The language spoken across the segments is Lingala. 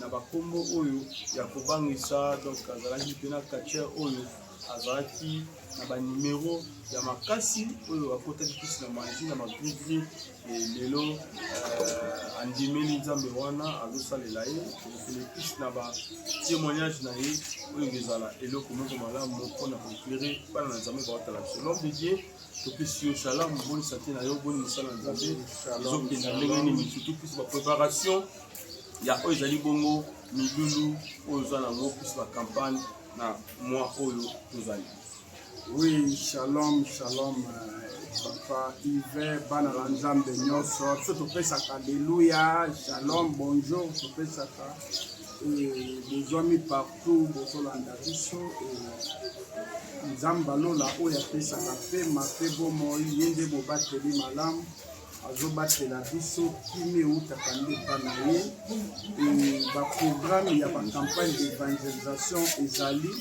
na bakombo oyo ya kobangisa donc azalaki mpe na catcheur oyo azalaki na banimero ya makasi oyo akotaki kisi na manji na magrigri lelo euh, andimeli nzambe wana azosalela ye elekisi na batémoignage na ye oyo ezala eloko moko malamu mpo na koeklere bana na nzambe baotala biso nom de dieu topesi yo salamu boni sante na yo boni mosala na nzambe ezokenda ndenge nini surtout plus bapreparation ya oyo ezali bongo milulu oyo oza na yango plus bacampagne na mwa oyo tozali oui shalom shalom euh, papa ive bana na nzambe nyonso biso topesaka aleluya shalom bonjour topesaka euh, bozwami partout bozolanda biso euh, nzambe alola oyo apesaka mpema mpe bomoi ye nde mobateli malamu azobatela biso kimia eutaka nde epa na ye baprogramme ya bacampagne d'evangelisation ezali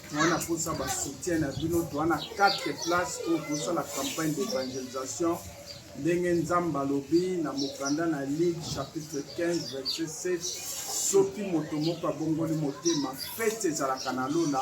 toa na mposa basoutien na bino toa na 4 place oyo tosala campagne d'evangelisation ndenge nzambe alobi na mokanda na ligue chapitre 15 verset 7 soki moto moko abongoli motema fete ezalaka na lola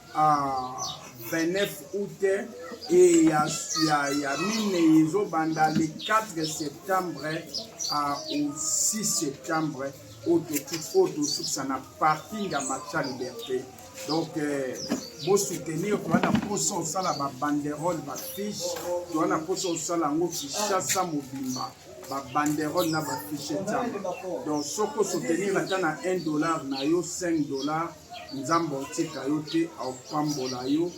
29 août et ya, ya, ya minei ezobanda le 4 septembre à, au 6 septembre oyo tosukisa na parking ya macha liberté donc euh, bosoutenir toza na mposa osala babanderole bafiche toza na mposa osala yango kinshasa mobimba babanderole na bafiche etiama donc soki osoutenir ata na 1 dollar na yo 5 dollar Nzambe akotika yo te, akopambola yo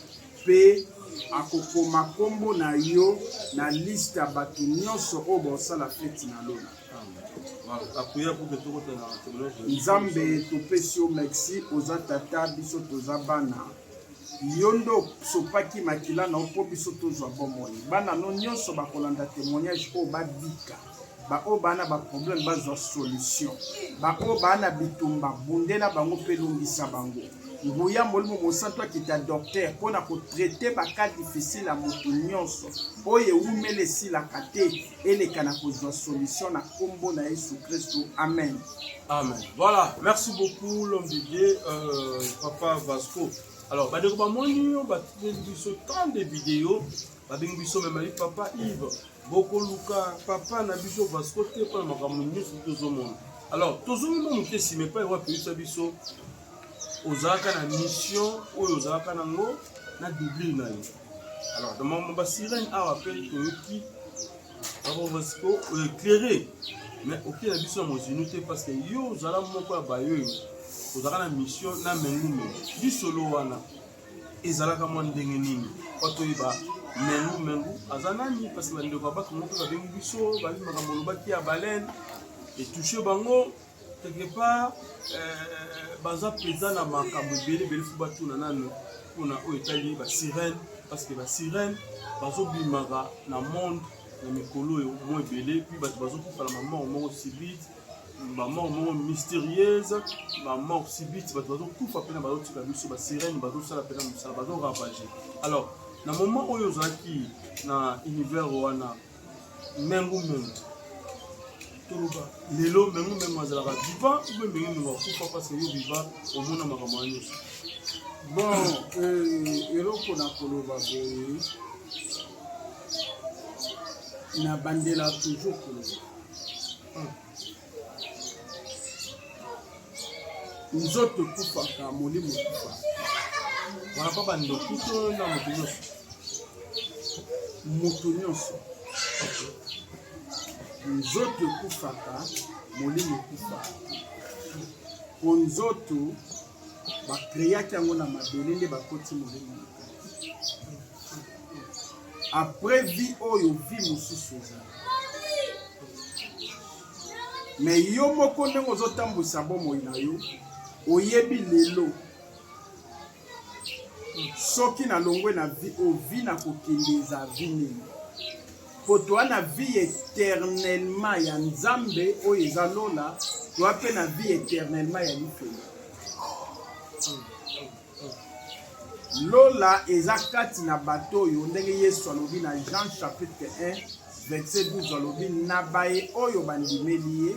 mpe akokoma nkombo na yo na liste ya bato nyonso oyo baosala feti na lola. Nzambe, topesi yo merci, oza tata, biso toza bana yo nde osopaki makila na yo mpo biso tozwa bomoi bana no nyonso bakolanda témoignage oyo babika baoyo baa na baproblème bazwa solution baoyo baa na bitumba bundela bango mpe longisa bango nguya molimo mosantu akita docteur mpo na kotraite baka difficile ya moto nyonso oyo ewumela esilaka te eleka na kozwa solution na nkombo na yesu kristu amen amen voilà merci beaucoup l'homme de dieu euh, papa vasco alors bandeko bamoni yo batindeli biso tant de video babengi biso memali papa ive bokoluka papa na biso vasco te mpona makambo nyonso tozomona alors tozongi mwa moke nsima epai wapi oyebisa biso ozalaka na mission oyo ozalaka nango na doublure na yo alors na makambo basirene awa mpe toyoki papa vasco oeclaire mais oke na biso ya mozinu te parce que yo ozala moko ya bayoyo ozalaka na mission na mengume lisolo wana ezalaka mwa ndenge nini mpo toyeba mengu mengu aza nani parce que bandeko ya bato moko babengi biso bayebi makambo olobaki ya baleine etouche bango quelque part euh, baza mpenza na makambo ebele ebele fo batuna nano mpona oyo etali basirene parce que basirene bazobimaka na monde na mikolo oyo mwa ebele mpe bato bazokufa na mamor moko sibite ba mort moko mystérieuse ba mort subite bato bazokufa mpena bazotika biso basirene bazosala mpena mosala bazoravage alors na moment oyo ozalaki na univers wana mengu mengu toloba lelo mengu mengu azalaka viva ube mengu mengu akufa parce yo viva omona makambo ya nyonso bon euh, eloko na koloba boye nabandela toujours koloba nzoto ekufaka molimo ekufa wana mpo bandoki to na moto nyonso moto nyonso nzoto ekufaka molimo ekufa mpo nzoto bakreaki yango na mabele nde bakoti molimo na kati après vie oyo vie mosusu eza me yo moko ndenge ozotambwisa bomoi na yo oyebi lelo soki nalongwe na vie oyo vie na kokende eza vie nini mpo toa na vie éternellement ya nzambe oyo eza lola toa mpe na vie éternellement ya lifelo Lola eza kati na bato oyo, ndenge Yesu alobi na Jean chapitre 1 verset 12, alobi na baye oyo bandimeli ye,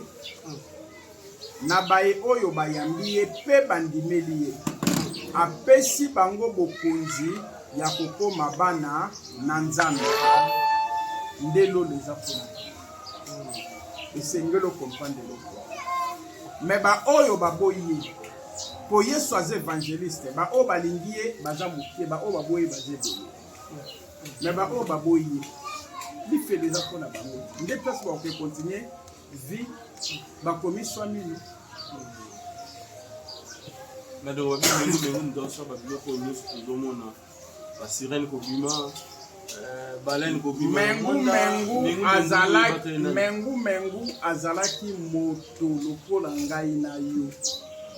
na baye oyo bayambi ye mpe bandimeli ye, apesi bango bokonzi ya kokoma bana na Nzambe. Nde lola eza kuna, esengeli okomprendre eloko me baoyo baboyi ye po yesu aza evangeliste baoyo balingi ye baza moke baoyo baboyi baza ebele me baoyo baboyi ye lifelo eza mpo na bango nde place bakoke continue vie bakomi swamini na dowa bino ndoso babiloko nyonso tozomona ba sirène kobima euh, baleine kobima mengu mengu azalaki mengu mengu azalaki moto lokola ngai na yo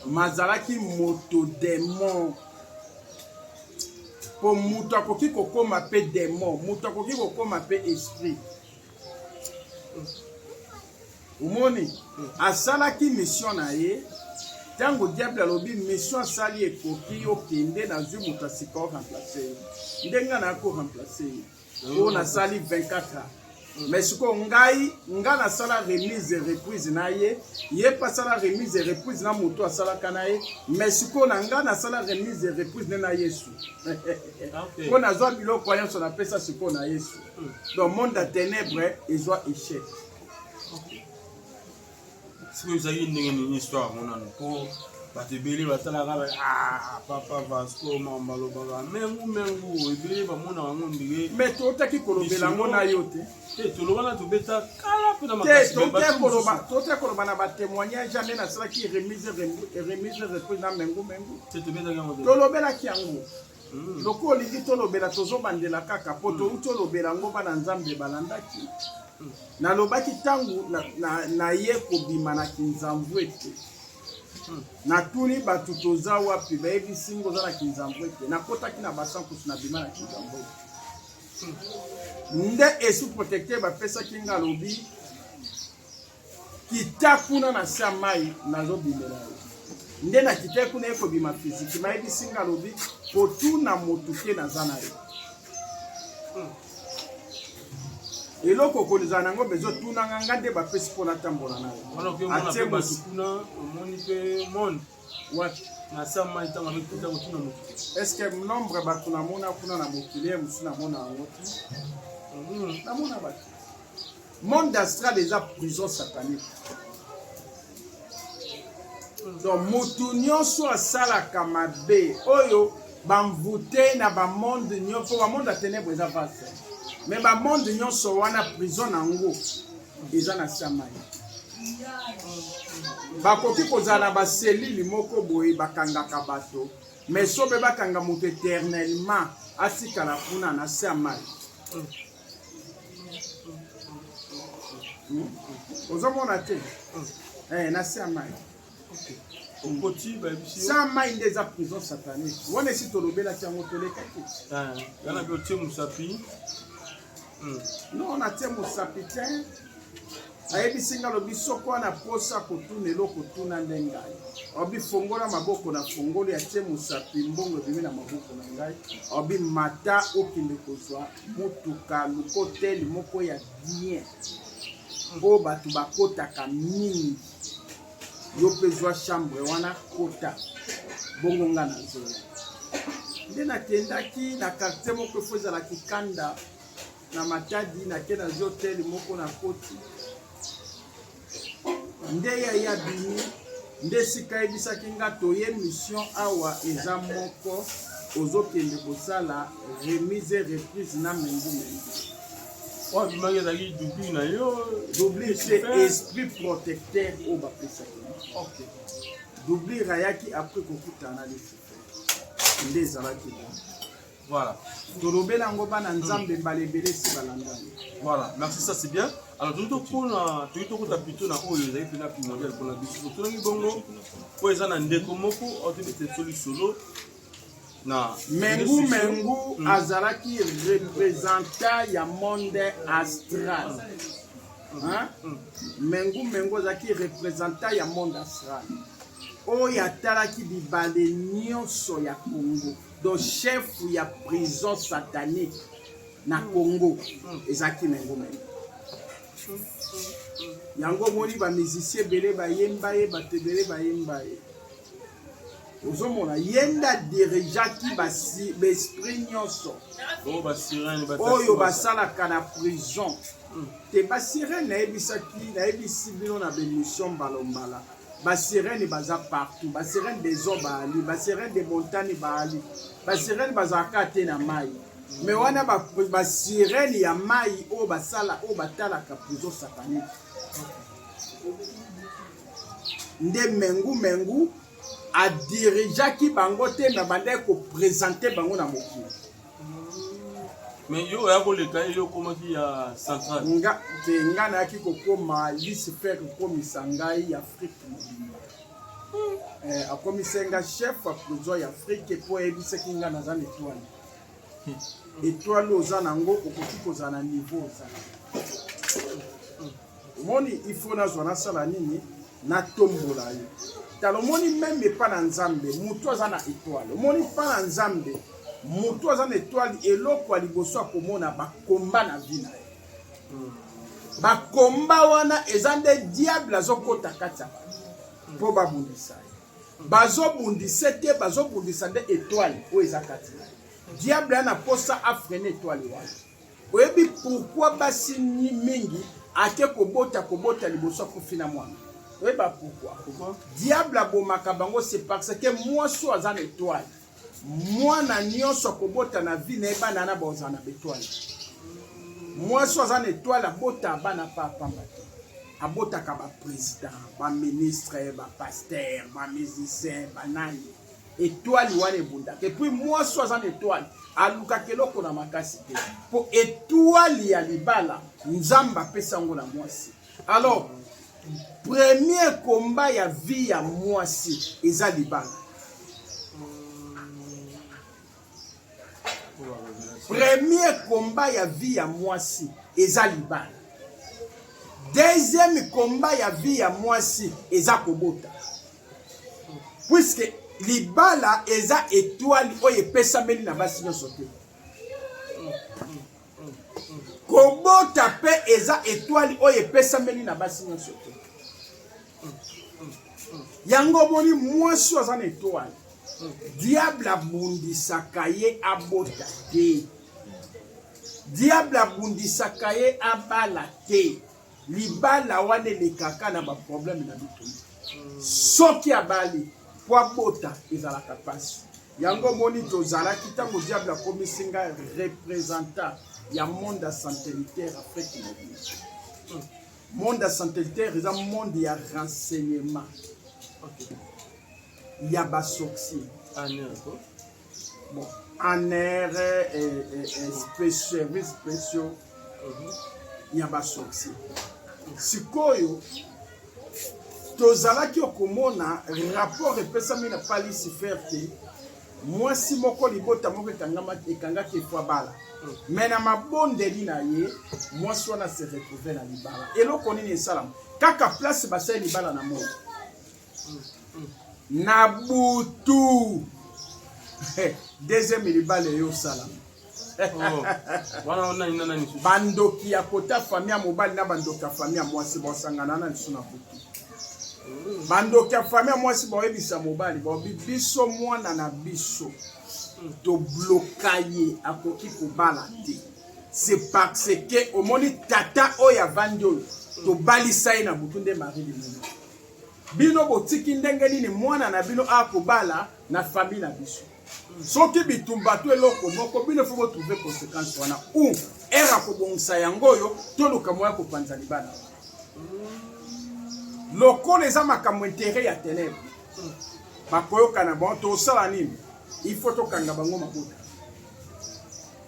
mazalaki moto demon mpo moto akoki kokoma mpe demon moto akoki kokoma mpe esprit omoni asalaki mission na ye ntango diable alobi mission asali ekoki yo kende nazwi moto ya sika oremplace ye nde ngai naya koremplace ye oyo nasali 24 ans mais sikoyo ngai ngai nasala remise reprise na ye ye mpe asala remise reprise na moto asalaka na ye mais sikoyo na ngai nasala remise reprise nde na yesu mpo nazwa biloko nyonso napesa sikoyo na yesu donc monde ya ténèbre ezwa échec soki ezalaki ndenge nini histoire yango nano mpo bato ebele batalaka ah, papa vasco mamba alobaka mengu mengu ebele bamona yango ndenge me totaki kolobela yango na yo te te tolobana tobeta kala mpe na makasitote koloba na batémoignage ane nasalaki remise remise reprise na mengu mengu tolobelaki yango Mm. Lokola olingi tolobela tozobandela kaka mpo mm. touti olobela yango bana Nzambe balandaki. Mm. Nalobaki ntango naye na, na kobima na kinzamvu ete mm. natuni bato toza wapi, bayebisi ngo oza na kinzamvu ete nakotaki na basankusu nabima na kinzamvu ete mm. nde esu protecteur bapesaki nga alobi kita kuna na se ya mai nazobimela yo nde nakitaki kuna ye kobima fiziki mayebisi nga alobi kotuna motu te naza na yo hmm. eloko okozala nango mpe ezotunanga nga nde bapesi mpo natambola na yo atie motu kuna omoni mpe monde wapi na sama ntango amekuta kotuna mokili estce nombre bato namona kuna na mokili ye mosusu namona yango te hmm. namona bato Monde astral eza prison satanique. Donc mutu nyonso asalaka mabe oyo bamvute na bamonde nyonso bamonde ya tenèbre eza vaste me bamonde nyonso wana prison na yango eza na samai bakoki kozala na baselile moko boye bakangaka bato me sobe bakanga moto eternellement atikala kuna na samai ozomona te eh, na se ya mai sa mai nde eza prison satanique wana esi tolobelaki yango tolekaki yana mpe otie mosapi no natie mosapi te ayebisi nga lobi soko wana posa kotuna eloko tuna nde ngai obi fongola maboko na fongoli atie mosapi mbongo ebimi na maboko na ngai obi mata okende kozwa motuka lokotel moko ya bien oyo bato bakotaka mingi yo mpe zwa chambre wana kota bongo nga na zola nde nakendaki na quartier moko efo ezala kikanda na matadi nake nazwi hotel moko na koti nde ya ya bimi nde sika yebisaki nga toye mission awa eza moko ozokende kosala remise reprise na mengu mengu oyo abimaki ezalaki dubli na yo dubli se esprit protecteur oyo bapesaki okay. dublir ayaki apres kokutana lifuta nde ezalaki bongo Voilà. tolobela yango bana nzambe mbala ebele esi balandani voilà merci ça c'est bien alors toyei tokona toyei tokota pito na oyo ezali mpena primordial mpona biso totunaki bongo mpo eza na ndeko moko aotebeteliso lisolo na mengu mengu hmm. azalaki representa ya monde astral hmm. Hmm. mengu mengu azalaki representa ya monde astral oyo atalaki bibale nyonso ya congo Donc chef ya prison satanique na Congo ezalaki na yango meme. Yango omoni ba musiciens ebele bayemba ye, bato ebele bayemba ye. ozomona ye nde adirigeaki baesprit nyonso oyo basalaka na prison te basirene nayebisaki nayebisi bino na bemission mbalombala ba sirene baza partout ba sirene des eaux baali ba sirene des montagnes baali ba sirene bazalaka te na mai me wana ba, ba sirene ya mai oyo basala oyo batalaka prison satanique nde mengu mengu adirijaki bango te me bandaki kopresente bango na mokili mais yo oya koleka ye yo okomaki ya central nga te nga nayaki kokoma lisper kokomisa ngai ya afrique mobimba hmm. eh, akomisa nga chef ya prison ya afrique mpo ayebisaki nga naza na etoile hmm. etoile oza na yango okoki kozala na niveau ozala omoni il faut nazwa nasala nini natombola ye tala omoni meme epa na nzambe motu aza na etoile omoni mpa na nzambe motu aza na etoile eloko ya liboso akomona bakomba na vi na ye hmm. bakomba wana eza nde diable azokota kati ya bato mpo babundisa ye bazobundisa te bazobundisa nde etoile oyo eza kati na ye diable ya na mposa afrene etoile wana Oyebi pourquoi basi mingi ake kobota kobota liboso akufi na mwana? Oyeba pourquoi? Pourquoi? Diable abomaka bango c'est parce que mwasi oyo aza na etoile. Mwana nyonso akobota na vie na ye bana wana baozala na betoile. Mwasi oyo aza na etoile abota bana pa pamba te. Abotaka ba président, ba ministre, ba pasteur, ba musicien, ba nani. etoile wana ebundaka epuis mwasi aza na etoile alukaka eloko na makasi te mpo etoile ya libala nzambe apesi yango na mwasi alors premier komba ya vie ya mwasi eza libala premier komba ya vie ya mwasi eza libala deuxième komba ya vie ya mwasi eza kobota puiske libala eza etwali oyo epesameli na basi nyonso te kobota mpe eza etwali oyo epesameli na basi nyonso te yango omoni mwasi oyo aza na etwali diable abundisaka ye abota te diable abundisaka ye abala te libala wana elekaka na baproblème na bitoni soki abali po abota ezalaka mpasi yango omoni tozalaki ntango diable akomisi ngai représentant ya monde ya santelitaire afrique mobile monde ya santelitaire eza monde ya renseignement okay. ya basorcier Bon, ANR et service spéciaux ya ba sorcier. Sikoyo tozalaki okomona rapport epesami na palisi fer te mwasi moko libota moko ekangaki efwa bala me na mabondeli na ye mwasi wana se retrouve na libala eloko nini esalama kaka place basali libala na moko na butu deuxième libala eyo osala oh. bandoki ya kota fami ya mobali na bandoki ya fami ya mwasi basangana na lisu na butu hmm. bandoki ya fami ya mwasi baoyebisa mobali baobi biso mwana na biso hmm. tobloka ye akoki kobala te c'est parce que omoni tata oyo avandi oyo hmm. tobalisa ye na butu nde marie limoni Bino botiki ndenge nini mwana na bino a kobala na famille na biso? Soki bitumba to eloko moko bino faut trouver conséquence wana ou era kobongisa yango oyo toluka moya kopanza libala lokola eza makambo intérêt ya ténèbre bakoyokana bon tosala nini il faut tokanga bango mabota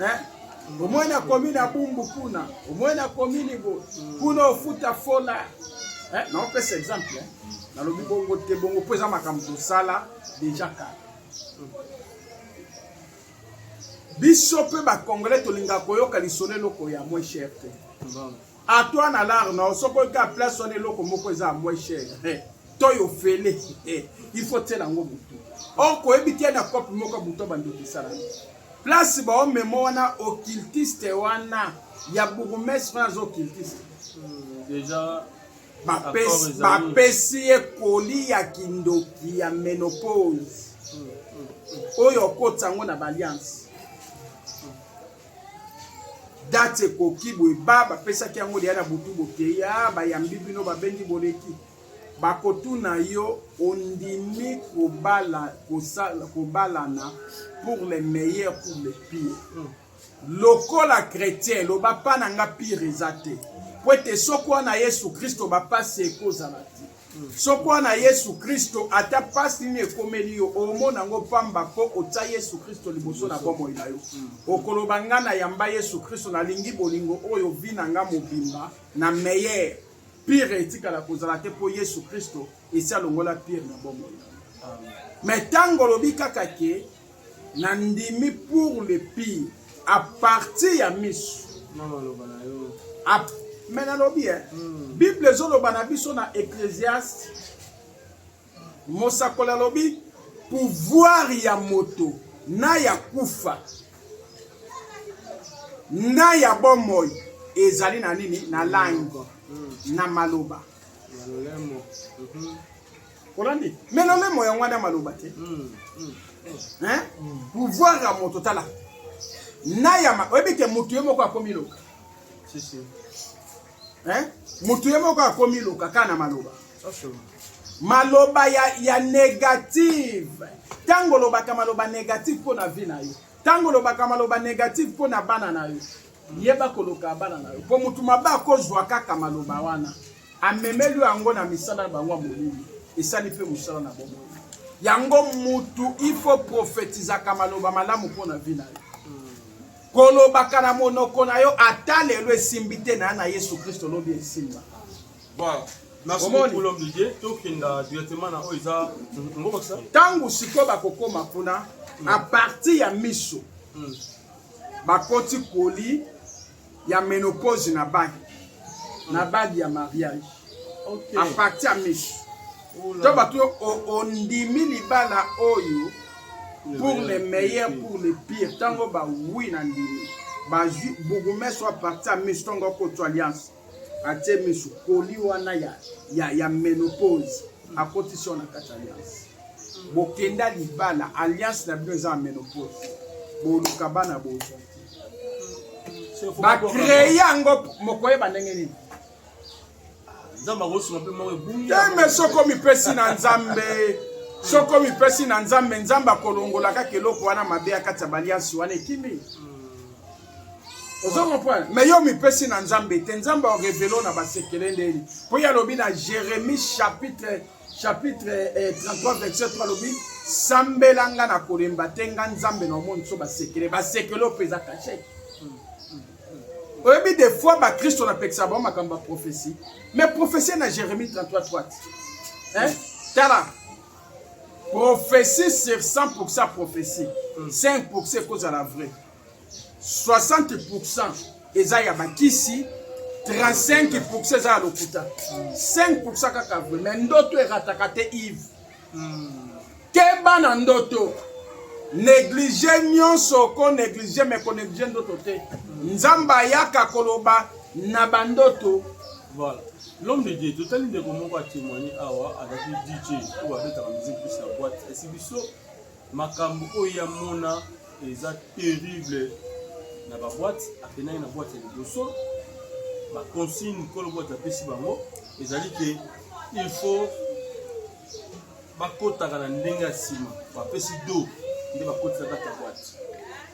eh? omoi na komi na bumbu kuna omoi na komi nibo kuna ofuta fola eh? naopesa exemple eh? nalobi bongo te bongo mpo eza makambo tosala deja kala biso mpe bacongolais tolingaka koyoka lisolo eloko ya moins cher te A toi na lar na yo soki oyoki a place wana eloko moko eza moins cher eh, to yo fele eh, il faut tiela yango motu or koyebi te na cope moko buto bandokisala place baomema wana occultiste wana ya bourgmestre wana aza occultiste hmm, déjà bapesi ye koli ya kindoki ya menopause hmm, hmm, oyo okotisa yango na baliance date ekoki boye ba bapesaki yango deya na butu bokei a ah, bayambi bino babendi boleki bakotuna yo ondimi kobala kosala kobalana pour le meilleur pour le pire hmm. lokola chrétien loba mpa na nga pire eza te mpo ete soko wana yesu kristo bapasi ekozala te Soko na Yesu Kristo, ata pasi nini ekomeli yo, omona ngo pamba po otya Yesu Kristo liboso na bomoi na yo. Okoloba nga na yamba Yesu Kristo, na lingi bolingo oyo vie na nga mobimba na meilleur. Pire etikala kozala te po Yesu Kristo esi alongola pire na bomoi na nga. Mais tango olobi kaka ke Na ndimi pour le pire a partir ya misu. Na maloba na yo. A mais nalobi eh. Mm. Bible ezoloba na biso na Ecclesiaste. Mosakoli alobi pouvoir ya moto na ya kufa na ya bomoi ezali na nini na langue na maloba olandi me lolemo yango wana maloba te mm, mm, mm. pouvoir ya moto tala na yama oyebi te motu ye moko akomi loka motu ye moko akomi loka kaka na maloba maloba ya, ya negative ntango olobaka maloba negative mpo na vie na yo ntango olobaka maloba negative mpo na bana na yo Yeba koloka bana na yo mpo motu mabe akozwa kaka maloba wana amemeli yango na misala na bango ya molimo esali mpe mosala na bomoi yango mutu ifo profetizaka maloba malamu mpo na vi na yo kolobaka na monoko na yo ata lelo esimbi te na ya na yesu kristo lobi esimba ntango sikoyo bakokoma kuna hmm. apartir ya miso hmm. bakoti koli ya menopause na bagi na bagi ya mariage okay. a partir ya misu to bato yo ondimi libala oyo pour le meilleur pour le pire ntango bawi na ndimi bazwi bourgmestre a partir ya misu ntongo akotso alliance atie misu koli wana ya, ya, ya menopause akotisi wana kati alliance bokenda libala alliance na bino eza ya menopause boluka bana bozo bakreye yango mokoyeba ndenge nini nzambe akosunga mpe moko ebungi teme soko mipesi na nzambe soko mipesi na nzambe nzambe akolongola kaka eloko wana mabe ya kati ya baliansi wana ekimi ozo comprendre mais yo mipesi na nzambe te nzambe orevelo na basekele ndeni mpo ye alobi na jérémie chapitre chapitre eh, 33 verset 3 alobi sambela nga na kolemba te nga nzambe na omoni so basekele basekele oyo mpeza kashe oyebi des fois bakristo napekisa bango makambo ya prophesie mais prophesie na jérémie 33 3 hein? tala prophesie sur 100 prophesie 5 ekozala vrai 60% eza ya bakisi 35% eza ya lokuta 5% kaka vrai mais ndoto erataka te ive keba na ndoto neglige nyonso oko neglige me koneglige ndoto te nzambe ayaka koloba na bandoto voilà l'homme de dieu totali ndeko moko atémoigne awa azalaki dj oyo abetaka musique plus ya boite esi biso Makambo oyo ya mona eza terrible na ba boîte akendaki na boîte ya liboso ba consigne mokolo boîte apesi bango ezali ke il faut bakotaka na ndenge ya nsima bapesi do nde bakotisa kati ya boîte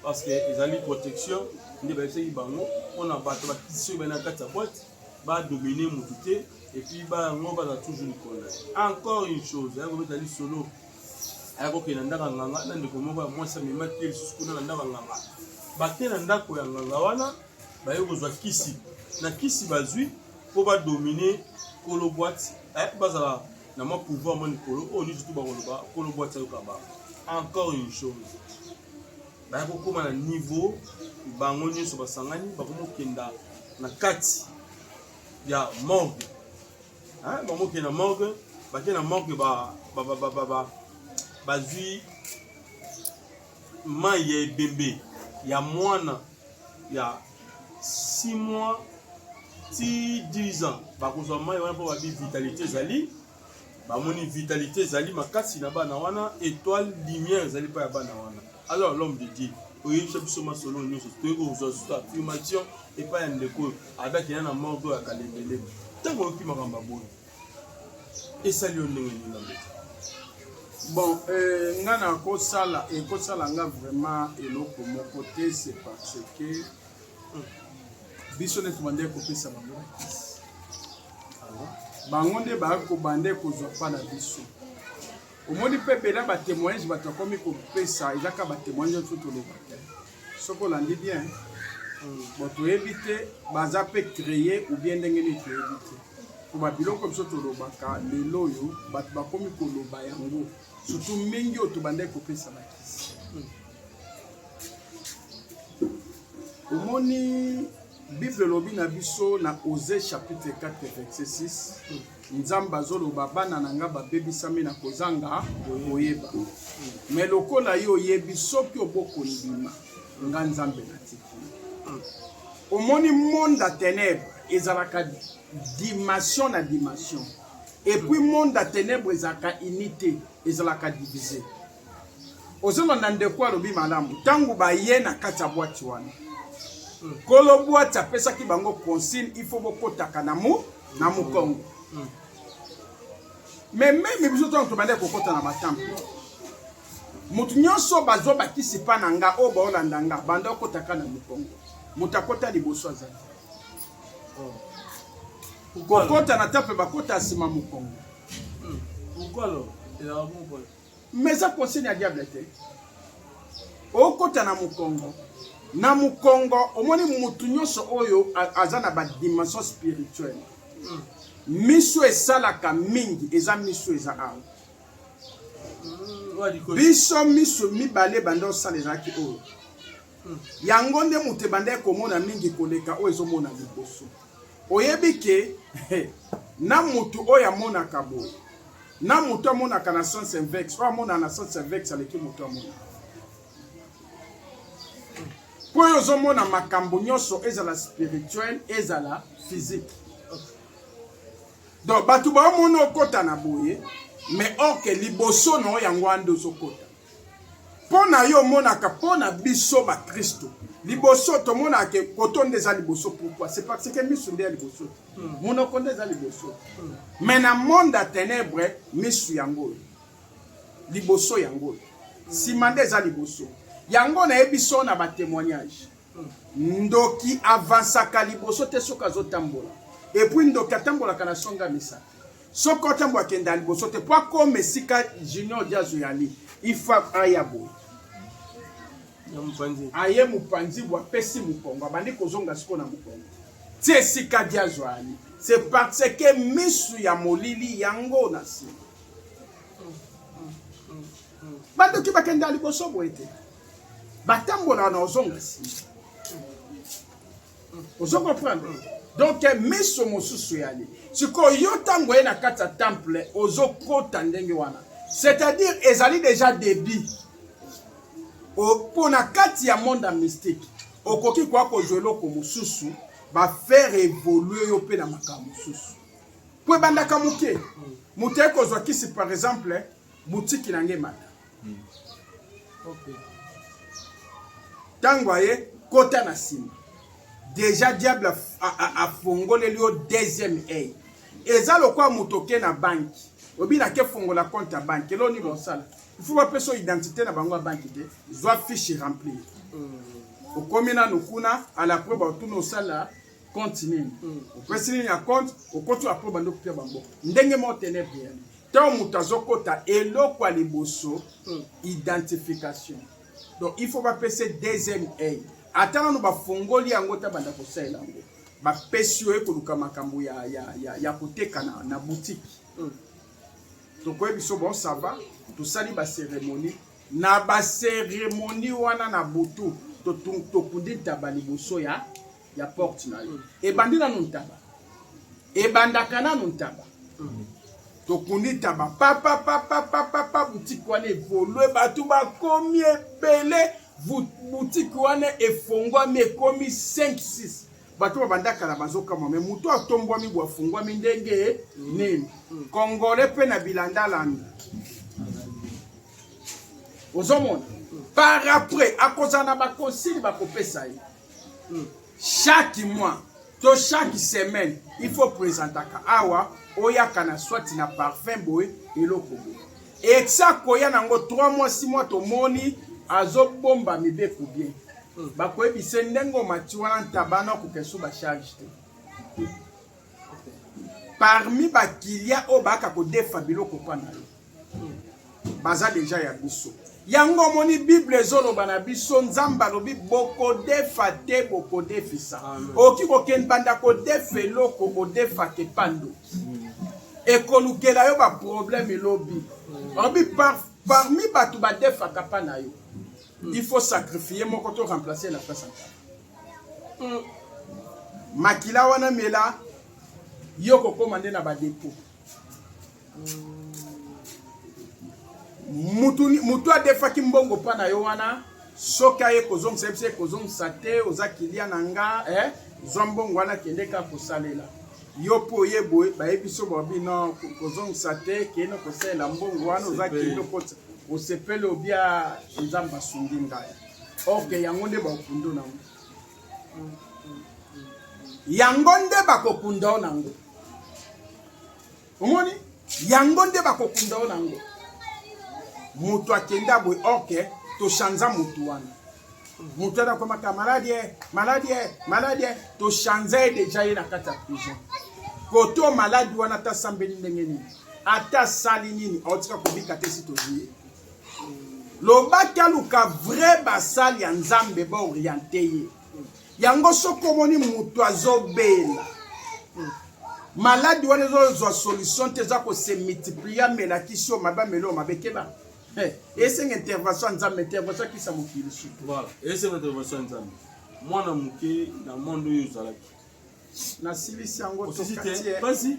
parce que ezali protection nde bayebisaki bango mpona bato bakiti soki bana kati ya boîte badomine motu te epuis bango baza toujours likolo encore une chose ayakobeta lisolo aya kokende na ndako ya nganga na ndeko moko ya mwasi amemaki ye lisusu kuna na ndako ya nganga bake na ndako ya nganga wana baye kozwa kisi na kisi bazwi mpo badomine kolo bwati eh, bazala na mwa pouvoir mwa likolo oyo nyonso tu bakoloba kolo bwati ayoka bango encore une chose baya kokóma na niveau bango nyonso basangani bakoma kokenda na kati ya morgue hein bango ke na morgue bake na morgue ba ba ba ba ba, ba bazwi mai ya ebembe ya mwana ya 6 mois ti 10 ans bakozwa mai wana mpo babi vitalité ezali bamoni vitalité ezali makasi na bana wana étoile lumière ezali mpo ya bana wana alors l'homme de dieu oyebisa biso masolo nyonso toyei kozwa susu affirmation epai ya ndeko oyo Ada kenda na morgue ya Kalemele. Tango oyoki makambo ya boye. Esali yo ndenge nini na mboka? Bon, euh, nga na kosala ekosala nga vraiment eloko moko te c'est parce que biso nde tobandaki kopesa bango bango nde bayaki kobanda ekozwa mpa na biso omoni mpe bela ba témoignage bato akomi kopesa eza kaka ba témoignage oyo toloba te soki olandi bien bon toyebi te baza mpe créer ou bien ndenge nini toyebi te mpo babiloko biso tolobaka lelo oyo bato bakomi koloba yango surtout mingi oyo tobandaki kopesa bakisi omoni bible elobi na biso na ose chapitre 4 verset 6 Nzambe azoloba bana na nga babebisami na kozanga koyeba, me lokola yo oyebi, soki obokondima nga Nzambe natiki. Omoni monde ya tenebre ezalaka dimension na dimension, epuis monde ya tenebre ezalaka unité, ezalaka divise. ozolanda ndeko alobi malamu ntango baye na kati ya bwati wana nkolo bwati apesaki bango consigne il faut bokotaka na mu na mokongo me meme biso ntango tobandaki kokota na batampo moto nyonso bazwa bakisi mpa na nga oyo baolanda nga banda okotaka na mokongo moto akota liboso azali kokota na temple bakota nsima mokongo Mais eza conseil ya diable te. Okota na mukongo. Na mukongo omoni mutu nyonso oyo aza na ba dimension spirituelle. Mm. Miso esalaka mingi eza miso eza awa. Mm, biso miso mibale banda osala ezalaki oyo. Mm. Yango nde moto ebandaki komona mingi koleka oyo ezomona liboso. Oyebi ke na mutu oyo amonaka boye na mutu amonaka na sens invexe, oyo amonaka na sens invexe aleki mutu amonaka mpo oyo ozomona makambo nyonso ezala spirituel ezala physique donc bato baomona okota na boye mais orke liboso na yo yango ande ozokota mpo na yo omonaka mpo na biso bakristo liboso tomonaka ke koto nde eza liboso pourkui c'est parce que misu nde ya liboso te hmm. monoko nde eza liboso hmm. mais na monde ya ténèbre misu yango oyo liboso yango oyo nsima nde eza liboso yango nayebi so na batémoignage ndoki avansaka liboso te soki azotambola epuis ndoki atambolaka na songa misato soki otambo akenda liboso te mpo akoma esika junior diazo yali ifa aya boye aye mopanzi bwa apesi mokongo abandi kozonga siko na mokongo ti esika diazo ali se parce que misu ya molili yango na nsima mm, mm, mm. bandoki bakenda liboso boye te batambola na ozonga nsima ozo comprendre donc miso mosusu eyali sikoyo yo ntango ye na kati ya temple ozokota ndenge wana c'est-à-dire ezali déjà débit mpo na kati ya monde ya mystique okoki koya kozwa eloko mosusu bafaire evolue yo mpe na makambo mosusu mpo ebandaka moke moto ye kozwa kisi par exemple butiki na ngai mata ntango aye kota na nsima deja diable afongoleli yo deuxième eye eza lokola moto oke na banki obi nake fongola compte ya banki elo nini osala il faut bapesa yo identité na bango ya banki te zwa fiche remplir hmm. okomi nanu kuna alapre baotuna osala compte nini hmm. opesi nini ya compte okoti apre bando kopia bango ndenge moko tenebri yani ntango moto azokota eloko ya liboso hmm. identification donc il faut bapesa deuxième aide ata nano bafongoli yango ta banda kosalela yango bapesi yo ekoluka makambo ya, ya, ya, ya koteka na, na boutique hmm. tokoye biso bon ça va tosali baceremonie na baceremonie wana na butu tokundi ntaba liboso ya ya porte na yo ebandi nanu ntaba ebandaka nanu ntaba tokundi ntaba papapapapapa butiki wana evolue bato bakomi ebele butiki wana efongwami ekomi 5 6 bato babandaka na bazokamwa me moto atombwami bwa afungwami ndenge nini kongole mpe na bilandalami ozomona par après akozala na bakonsili bakopesa ye chaque mois to chaque semaine il faut présentaka awa oyaka na soit na parfum boye eloko boye esa koya nango 3 mois 6 mois tomoni azobomba mibeko bien hmm. bakoyebise ndenge omati wana ntabana kokesu bacharge te parmi bakilia oyo baka kodefa biloko mpo na yo baza deja ya biso yango omoni bible ezoloba na biso nzambe alobi bokodefa te bokodefisa okoki kokende banda kodefa eloko odefaka epando hmm. ekolukela yo baproblème elobi hmm. olobi par, parmi bato badefaka mpa na yo hmm. il faut sacrifie moko to remplace na place makila wana mela yo kokóma nde na badepot mutu mutu adefaki mbongo mpa na yo wana soki aye kozongisa ye biso ye kozongisa te oza kilia na nga eh? zwa mbongo wana kende kaka kosalela yo mpo oye boye bayebi so babi no kozongisa te kende kosalela mbongo wana oza kende okotisa osepeli obia nzambe asungi ngai orke yango nde baokundo nango yango nde bakokunda o nango omoni yango nde bakokunda yo nango moto akenda boye orke tochanza motu wana moto wana akomaka maladi e maladi e maladi e tochanza ye deja ye na kati ya prison koto maladi wana ata asambeli ndenge nini ata asali nini aotika kobika te si tozwi ye lobaki aluka vrai basali ya nzambe baoriente ye yango soki omoni moto azobela hmm. maladi wana ezozwa solution te eza kose multiplier amelakisi yo mabe ameli oyo mabe keba eh, esenga intervention ya nzambe intervention akisa mokili sutu esenga intervention ya nzambe mwana moke na monde oyo ozalaki nasilisi yango tokatiye basi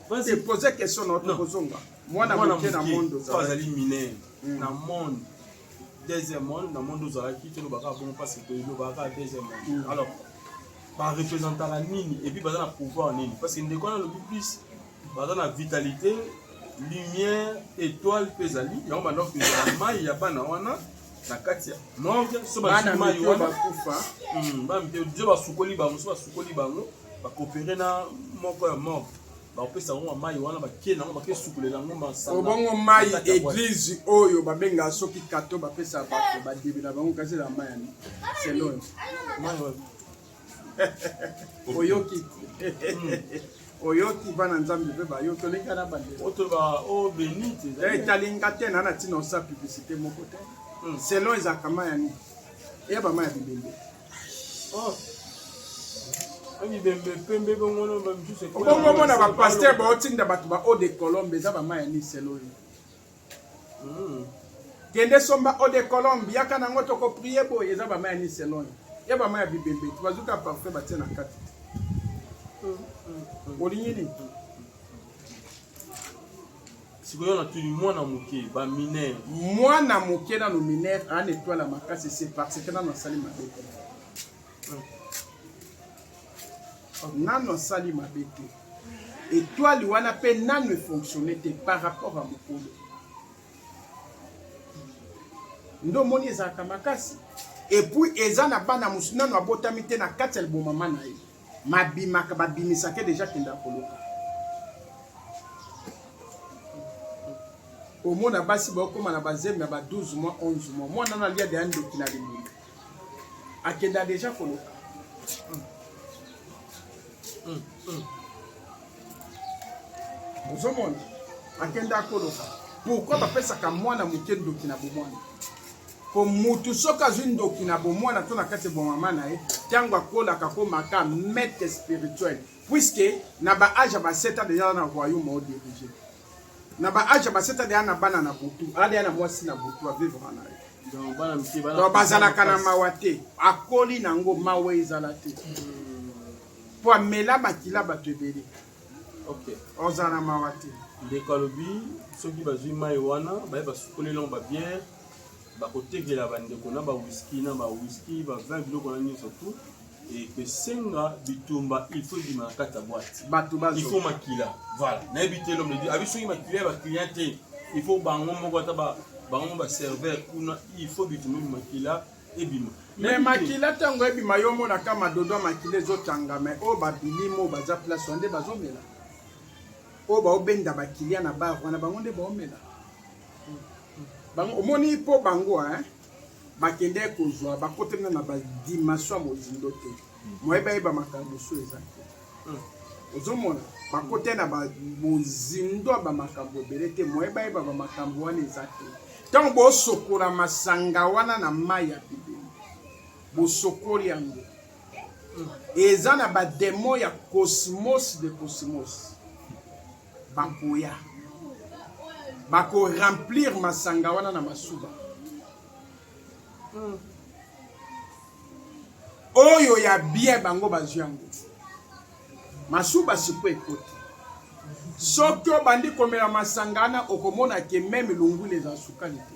basi poser question na tokozonga mwana moke na monde ozali mineur hmm. na monde deuxième monde na monde ozalaki tolobaka bongo mpasi tolobaka deuxième monde hmm. alors barepresentaka nini epuis baza na pouvoir nini parce que ndeko wana alobi plus baza na vitalité lumière étoile mpe ezali yango bandako ezala mai ya bana wana na kati ya morgue so bazwi mai oyo bakufa hmm, bana mike dio basukoli bango so basukoli bango bakopere na moko ya morgue bakopesa yango mai wana bakie nango bake sukolela yango masaobongo mai eglize oyo babengaka soki kato bapesa bato badebela bango kasi na mai ya selon oyoki oyoki bana nzambe mpe bayo toleka na bandetali nga te na na ntina osa publicité moko te hmm. selon ezalaka mai ya nini eya bama ya bibembe oh. obongo omona bapaster baotinda bato ba eau de colombe eza bama ya nini selon yo Mm. Kende somba eau de colombe, yaka nango toko prier boye eza ba maya ni selon. Ya ba maya bibebe, tu bazuka parfum ba tia na kati. Mm, mm, mm. Olingi nini? sikoyo natuni mwana moke baminere mwana moke nano minere ana etwala makasi se parce que nano asali mabe nanu asali mabe te etoile wana mpe nanu efonctionne te par rapport ya mokolo nde omoni ezalaka makasi epuis eza na bana mosusu nanu abotami te na kati ya libomama na ye mabimaka babimisaka deja kenda koluka omona basi baokóma na bazemi ya ba 12 mois 11 mois mwana na alia deya ndoki na limoni akenda deja koloka mm. mm. mm. ozomona akenda koloka pourkui bapesaka mwana moke ndoki na bomwana po mutu soki azwi ndoki na bomwana to na kati ya bomama na ye ntango akolaka akomaka maître spirituel puiske na baage ya baseta deja na royaume odirige na ba age ba seta deya na bana na butu adeya na mwasi na butu avivre na ye donc bazalaka na mawa te akoli na yango mawa ezala te mpo hmm. amela makila bato ebele ozala na mawa te ndeko alobi soki bazwi mai wana baye basukoli longo babiere bakotekela bandeko na bawiski na bawiski bavin biloko na nyonso tout ekosenga bitumba il faut ebima na kati ya boite bato bazo il faut makila voilà nayebi te lome di abi soki makila ya baclient te il faut bango moko ata bango moko baserveur kuna il faut bitumba ebima makila ebima me makila ntango ebima yo omonaka madodo ya makila ezotanga me oyo babilimi oyo baza place wana nde bazomela oyo baobenda bakilia na bar wana bango nde baomela omoni mpo bango hein bakendaki kozwa bakotami na badimension ya mozindo te moye bayeba makambo mosusu eza te hmm. ozomona bakote na mozindo ya bamakambo ebele te moye bayeba bamakambo wana eza te ntango bosokola masanga wana na mai ya bibeli bosokoli yango hmm. eza na bademo ya cosmos de cosmos Bakoya. Bako remplir masanga wana na masuba. Hmm. Oyo ya bien bango bazwi yango. Masuba siko ekoti. Soki obandi komela masanga wana okomona ke meme lungula eza sukali te.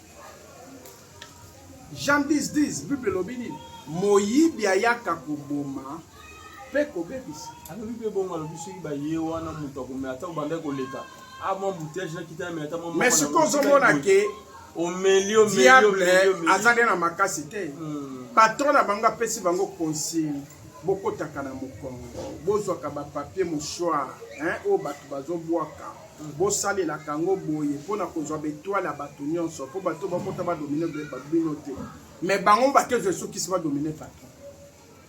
Jean 10 10 Bible elobi nini? Moyibi ayaka koboma mpe kobebisa. Alobi mpe bongo, alobi soki baye wana moto akomela ata obandaki koleka amwa ah, bouteille nakita na ata mwa mais sikoyo ozomona ke omeli omeli diable aza nde na makasi te hmm. patron na bango apesi bango consigne bokotaka na mokongo bozwaka bapapier mouchoir oyo bato bazobwaka Bosalelaka yango boye mpo na kozwa b'etoiles ya bato nionso mpo bato oyo bakota ba dominer bino te mais bango moko bakezwa esukisi ba dominer patron.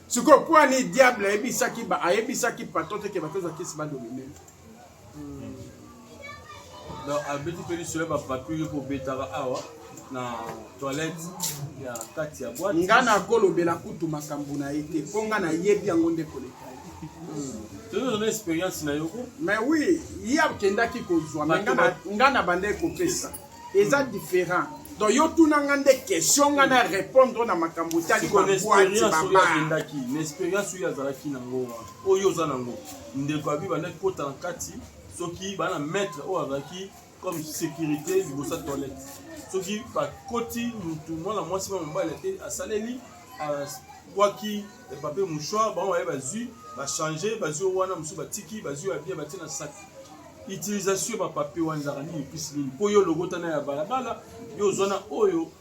Sikoyo mpo ani diable ayebisaki ba ayebisaki patron te ke bakezwa kisi ba dominer. Donc abeti mpe lisolo ya ba patrouille mpo obetaka awa. na toilette ya kati ya boîte nga na kolobela kutu makambo na ye te mpo nga nayebi yango nde koleka toyozana expérience na yoko mais oui ye akendaki kozwa me nga na bandaki kopesa eza différent donc yo tuna nga nde question nga na répondre na makambo otali baboitibabaendaki na expérience oyo azalaki nango wana oyo oza nango ndeko abi bandaki kota na kati soki bana maître oyo azalaki comme sécurité liboso ya toilette soki bakoti mutu mwana mwasi mwa mobali te asaleli abwaki papier mouchoir bango baye bazwi bachange bazwi wana mosusu batiki bazwi ya bien batie na saki utilisation ya bapapier wana ezalaka nini mpisi nini mpo yo logotana ya balabala yo ozwana oyo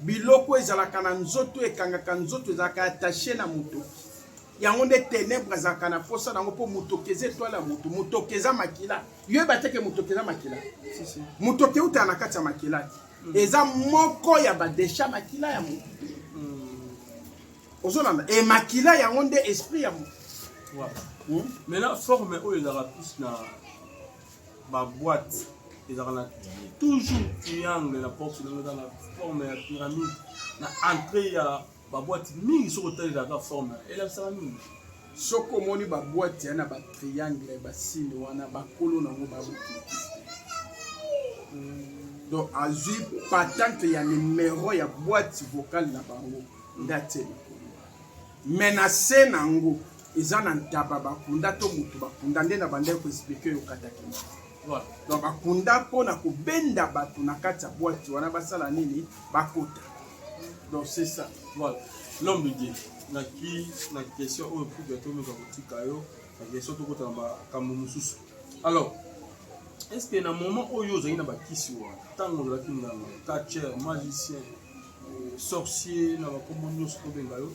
Biloko ezalaka na nzoto ekangaka nzoto ezalaka attache na moto. Yango nde tenebre azalaka na posa nango mpo motoki eza etwale ya moto. Motoki eza makila. Yo yeba te ke motoki eza makila. Motoki eutaka na kati ya makila. Mm. Eza moko ya ba decha makila ya moto. Mm. Ozolanda. E makila yango nde esprit ya moto. Voilà. Hmm? Maintenant forme oyo ezalaka plus na ba boîte ezalaka na toujours triangle na porte na eza na forme ya pyramide na entrée ya ba boîte mingi soki otalelaka forme elakisaka nini soki omoni ba boîte ya na ba triangle ba signe wana bakolo na yango babokilakisi donc azwi patente ya numero ya boîte vocale na bango nde atie likolo Mais na se na ngo eza na ntaba bakunda to moto bakunda nde na bandaki ko explique yo katakina donc bakunda mpo na kobenda bato na kati ya bwati wana basala nini bakota donc c'est ça voilà l'homme de dieu na ki na question oyo mpo biato meka kotika yo na question tokota na makambo mosusu alors est ce que na moment oyo ozalaki na bakisi wana ntango ozalaki nganga catcher magicien sorcier na bakombo nyonso tobenga yo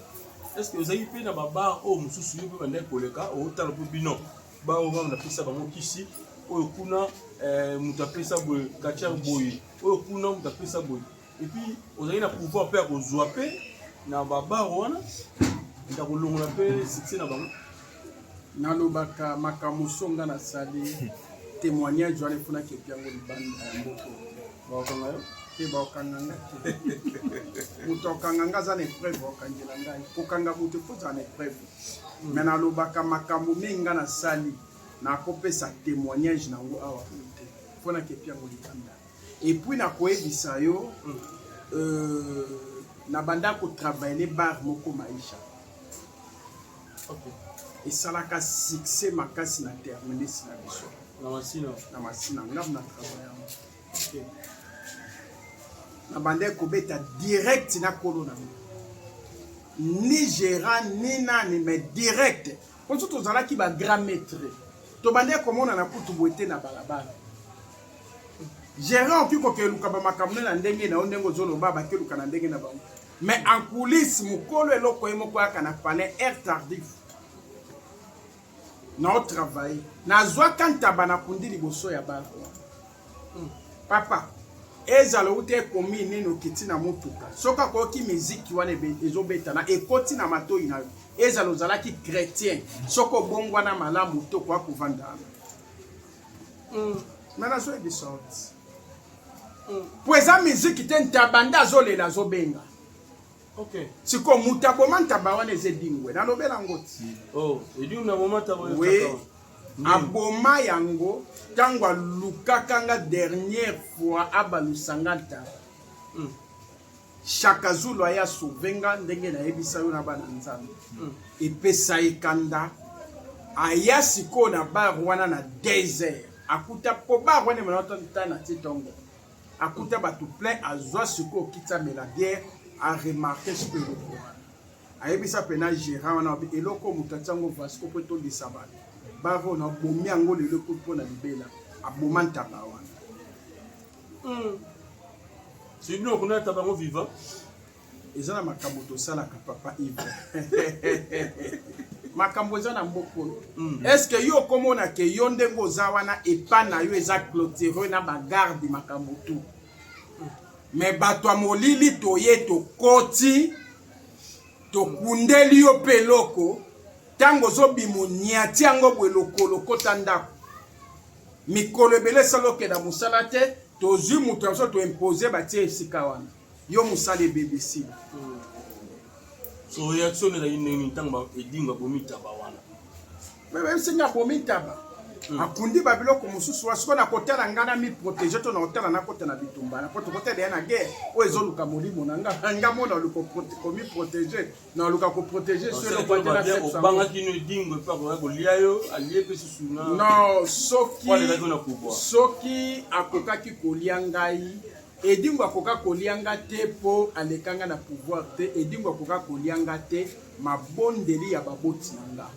estce ozali mpe na babar oyo mosusu yo mpe bandaki koleka otala mpo bino bar oyo wana napesa bango kisi oyo kuna eh, moto apesa boye katiar boye oyo kuna moto apesa boye epuis ozali na pouvoir mpe ya kozwa mpe na babar wana ya kolongola mpe succès na bango nalobaka makambo songa nasali témoignage wana eponaki epiango libanda ya moko bakokanga yo te bakokanga nga te moto akokanga nga aza na epreuve bakokangela ngai kokanga moto efo ozala na epreuve hmm. me nalobaka makambo mingi nga nasali nakopesa témoignage na yango awa te mpo nakepi yango libanda epuis nakoyebisa yo hmm. euh, na banda kotravaille bar moko maisha esalaka succès makasi na terminus na biso na masina nga na travaille na bandaki kobeta direct na kolo na ngo ni gérant ni nani mais direct mpo so tozalaki ba grand maître tobandaki komonana kutu boye te na balabala gérant okoki kokeluka bamakambo nde na ndenge na yo ndenge ozoloba bakeluka na ndenge na bango mais en coulisse mokolo eloko ye moko yaka na palais air tardif nao travaille nazwaka ntaba na kundi liboso ya ba hmm. papa ezala outa ekomi nini okiti na motuka soki akoyoki miziki wana ezobeta na ekoti na matoi na yo ezala ozalaki chrétien soki obongwana malamu to koya kovandana hmm. me nazoyebi sorte mpo hmm. eza miziki te ntabanda azolela azobenga Okay. Siko mutu aboma ntaba wana eza edingwe nalobela yango ti oh, edingwe aboma ntaba we aboma yango ntango alukaka nga dernière fois abalusa nga ntaba mm. shaka zulu aye asove nga ndenge nayebisa yo na bana nzambe mm. epesa ye kanda aya sikoyo na bar wana na 2 heures akuta po bar wana emanatantana ti tongo akuta bato plein azwa sikoyo kiti amela biere aremarke sikoyo eloko wana ayebisa mpena gérant wana obi eloko moto atia yango vasco mpo etondisa bato bare oyo nabomi yango lelo ekoti mpo na libela aboma ntaba wana hmm. sibino okonata bango vivant eza na makambo tosalaka papa ive makambo eza na mboka oyo mm. estce yo okomona ke yo ndenge oza wana epa na yo eza clotire na bagarde makambo tu me bato ya molili toye tokoti tokundeli yo mpe eloko ntango ozobima onyati yango boye lokolo okota ndako mikolo ebele esala okenda mosala te tozwi moto yango so toimpose batie esika wana yo mosali ebebesi so reaction ezali ndenge nini ntango edingo abomi taba wana esengi abomi taba hmm. akundi babiloko mosusu wa sikoyo nakotala ngai na miprotege to nakotala nakota na bitumba na po tokotala ya na guerre oyo ezoluka molimo na ngai nga mona oluka komiprotege naluka koprotege soobangaki no edingo epe akoya kolia yo alie mpe susu no soki soki akokaki kolia ngai Edingo akoka kolia nga te po aleka nga na pouvoir te Edingo akoka kolia nga te mabondeli ya baboti na nga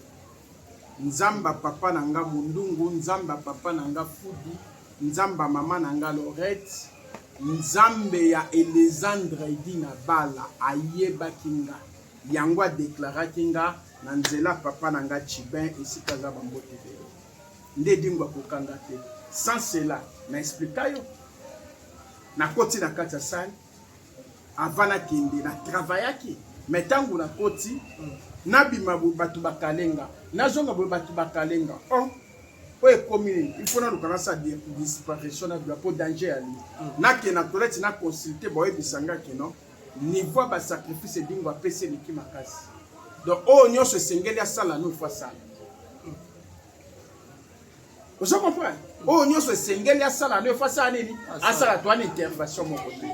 Nzamba papa na nga Mundungu Nzamba papa na nga Fudi Nzamba mama na nga Lorette Nzambe ya Elezandre Edi na Bala ayebaki nga yango adeklaraki nga na nzela papa na nga Chibin esika aza bambote ebele nde dingo akokanga te sans cela na explika yo nakoti na kati ya sale avant nakende na travaillaki me ntango nakoti nabima bato bakalenga nazonga boye bato bakalenga o oh, oyo ekomi nini il faut naluka nasa disparition na bia mpo danger ya li nakenda toleti na consulte boyebisa nga kino niveau ya basacrifice edingo apesi eleki makasi donc oyo nyonso esengeli asala no ifo asala ozo comprendre oyo nyonso esengeli asala no efo asala nini asala to wana intervention moko te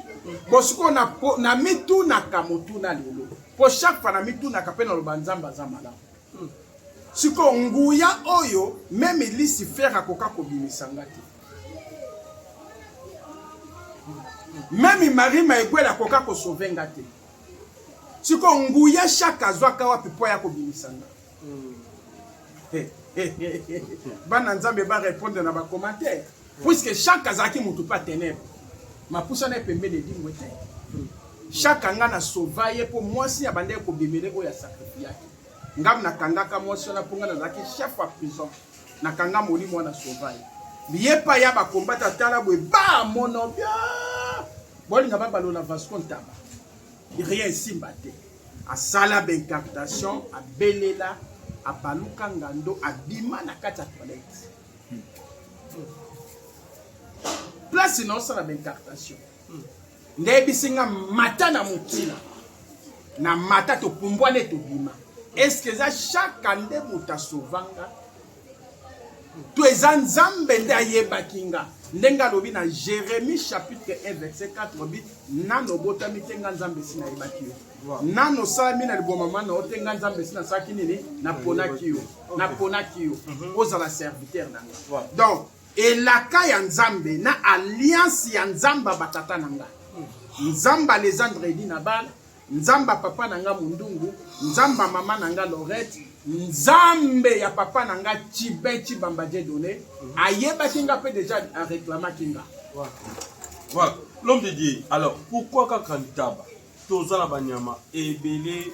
bo sikoyo na mitunaka motuna lelo mpo chaque fois na mitunaka mpe naloba nzambe aza malamu hmm. sikoyo nguya oyo meme lucifer akoka kobimisa nga te meme marie maegwele akoka kosove nga te sikoyo nguya shaka azwaka wapi mpo aya kobimisa nga bana nzambe ba répondre na ba commentaire puisque chaque azalaki motu mpe atenebre mapusa na ye pembeni edimbo te chaque anga na sauva ye mpo mwasi abandaki kobimele oyo asakrifiyaki ngam nakangaka mwasi wana mpo ngai nazalaki chef ya prison nakanga molimo wana sauva ye biye pa ya bakombata tala boye ba mono bia bolinga babalola vasco ntaba rien esimba te asala ba incantation abelela abaluka ngando abima na kati ya toilette hmm. place naosala ba incantation hmm. ndeyebisi nga mata na motina na mata topumbwane tobima eske eza chaka nde moto asovanga to eza nzambe nde ayebaki nga ndenge alobi na jérémie chapitre 1 verset 4 alobi nano obotami te nga nzambe esi nayebaki yo nano osalami na libwa mama na yo te nga nzambe esi nasalaki nini naponaki yo naponaki yo mhm. ozala serviteur na nga donc elaka ya nzambe na alliance ya nzambe ya batata na nga nzambe alezandredi na bala Nzambe ya papa na nga Mundungu, Nzambe ya mama na nga Lorette, Nzambe ya papa na nga Chiben Chibamba Dieudonne, ayebaki nga mpe deja areklamaki nga. Voilà, l'homme de Dieu. Alors, pourquoi kaka ntaba toza na banyama ebele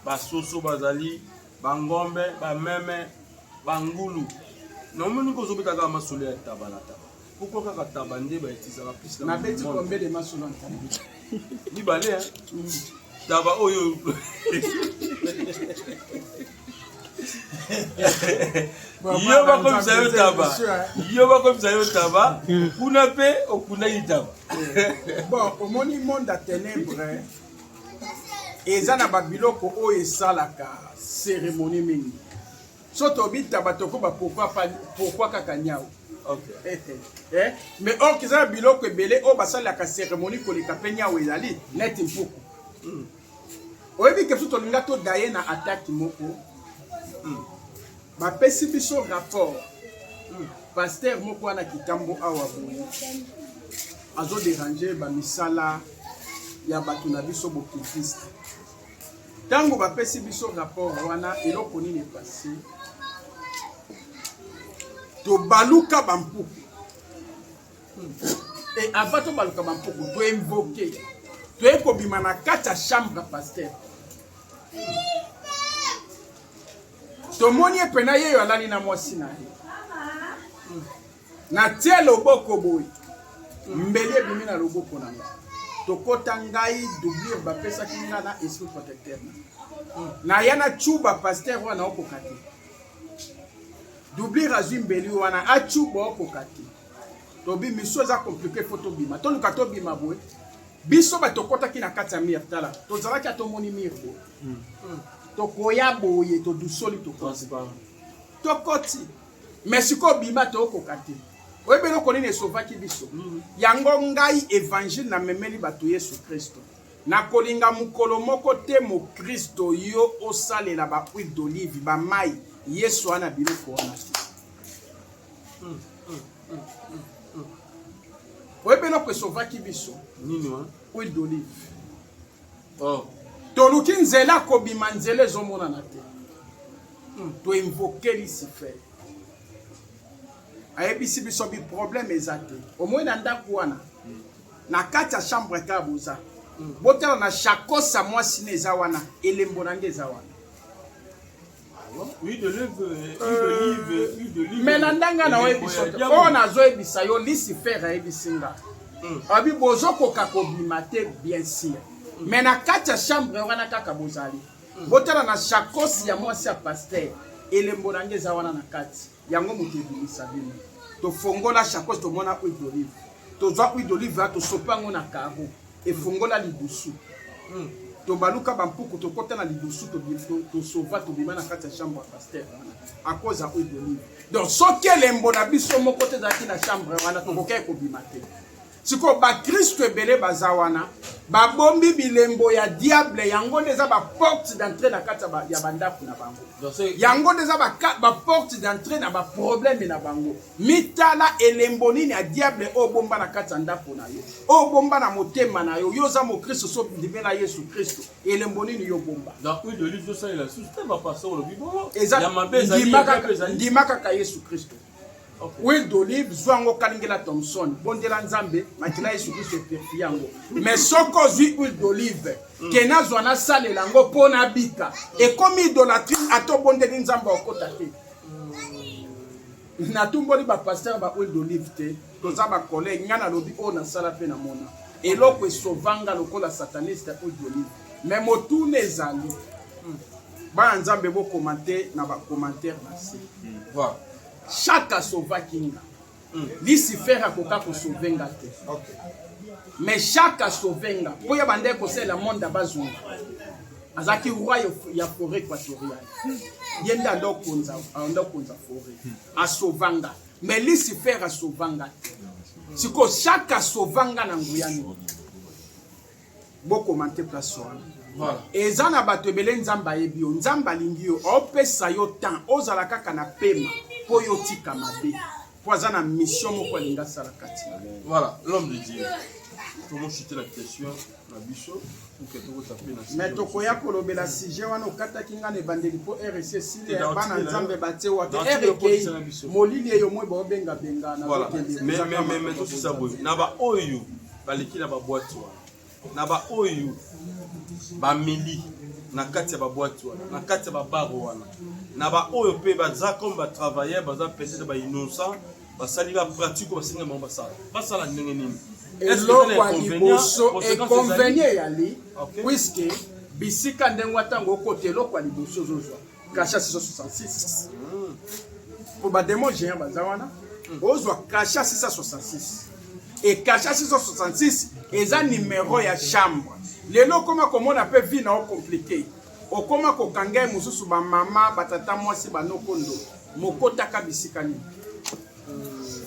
basoso bazali bangombe bameme bangulu namoni kozobeta kaka masolo ya ntaba na ntaba Pourquoi kaka taba nde ba etisaka plus na beti combien de matchs dans taba ni balé hein mm. taba oyo yo bakomisa yo taba yo bakomisa yo taba kuna mpe okundaki taba bon omoni monde ya ténèbre eza na babiloko oyo esalaka cérémonie mingi Soki tobi taba tokoba pourquoi kaka nyau Okay. Eh, eh, eh. mais or kiza na biloko ebele oyo basalelaka cérémonie koleka mpe nyau ezali neti mpuku mm. oyebi ke biso tolinga todaye na ataki moko mm. bapesi biso rapport mm. paster moko wana kitambo awa boye azoderange bamisala ya bato na biso bokiltiste Tango ba pesi biso rapport wana eloko nini epasi? Tobaluka ba mpuku. Et avant tobaluka ba mpuku, to invoquer. Toye kobima na kati ya chambre pasteur. tomoni ye mpena ye oyo alali na mwasi na ye Natie loboko boye, mbeli ebimi na loboko na nga. Tokota ngai doublure bapesaki nga na esprit protecteur. Naya na chuba pasteur wana okoka te. Doublure azwi mbeli wana achuba okoka te. Tobi miso eza compliqué faut tobima. Toluka tobima boye. Biso batokotaki na kati ya mire tala. Tozalaki atomoni mire boye. Hmm. Tokoya boye todusoli tokosi. Tokoti. mais sikoyo bima tokoka te oyebi eloko nini esovaki biso mm. yango ngai evangile namemeli bato yesu kristo nakolinga mokolo moko te mokristo yo osalela bahuile d'olive bamai yesu wana biloko wana te mm, mm, oyebi eloko esovaki biso huile d'olive oh. toluki nzela kobima nzela ezomonana te hmm. toinvoke lucifer ayebisi biso biproblème eza te omoi na ndako wana na kati ya chambre kaka boza botala na shakosa mwasi na eza wana elembo na nde eza wana me na ndenge naoyebisa oyo nazoyebisa yo lisifere ayebisi nga hmm. abi bozokoka kobima te bien sire me na kati ya chambre wana kaka bozali hmm. botala na shakosi ya mwasi ya paster elembo na nge eza wana na kati yango moto ebimisa bino tofongola shakosi tomona huile d'olive tozwa huile d'olive tosopa yango na karo Efongola lidusu. Tobaluka ba mpuku tokota na lidusu tosova tobima na kati ya chambre ya pasteur wana a cause ya huile d'olive. Donc soki elembo na biso moko te ezalaki na chambre wana tokokaki kobima te. sikoyo bakristo ebele baza wana babombi bilembo ya diable yango nde eza baporte d'entrée na kati ya bandako na bango yango nde eza baporte d'entrée na baprobleme na bango Mitala elembo nini ya diable oyo bomba na kati ya ndako na yo, oyo bomba na motema na yo. Yo oza mokristo, so ndimela Yesu Kristo, elembo nini yo bomba? Ndima kaka Yesu Kristo. Huile d'olive, zwa yango kalingela Thomson, bondela Nzambe, makila Yesu Kristo epurifie yango. Mais soki ozwi huile d'olive, mm. ke nazwa nasalela yango mpo nabika, ekomi idolatrie, ata obondeli Nzambe okota te. hmm. natumboli bapastere ba huile d'olive te toza bacollègue ngai nalobi oyo nasala mpe namona eloko esovanga lokola sataniste huile d'olive me motuna ezali hmm. bana nzambe bokomante na bacommentaire na se hmm. chaque asovaki nga Mm. Lucifer akoka ko sauver nga te. Okay. Mais Jacques a sauver nga. Po ya bande ko sala monde bazunga. Azaki roi ya forêt équatoriale. Ye nda ndo konza, ndo konza forêt. Hmm. A sauver nga. Mais Lucifer a sauver nga te. Siko Jacques a sauver nga na nguya nini? bo commente place wana voilà. eza na bato ebele nzambe ayebi yo nzambe alingi yo opesa yo temps ozala kaka na pema mpo yo otika mabe mpo aza na mission moko alingi asala kati voilà l'homme de dieu tomoshutela question na biso me tokoya kolobela sujet wana okataki ngai na ebandeli mpo rs esili ya bana nzambe batie wapi erekei molili eyo moi baobengabenga na boteliemetosisa boye na baoyo baleki na babwati wana na baoyo bameli na kati ya babwati wana na kati ya babare wana na baoyo mpe baza comme batravailleur baza peut-être bainnocent basali bapratique oyo basengi bango basala basala ndenge nini eloko ya liboso econvenie eyali puiske bisika ndenge ntango okota eloko ya liboso ozozwa kasha 666 mpo bademo géant baza wana ozwa kasha 666 e kasha 666 eza nimero ya chambre lelo okoma komona mpe vi na o komplike okoma kokanga ye mosusu bamama batata mwasi banoko ndo mokotaka bisika nini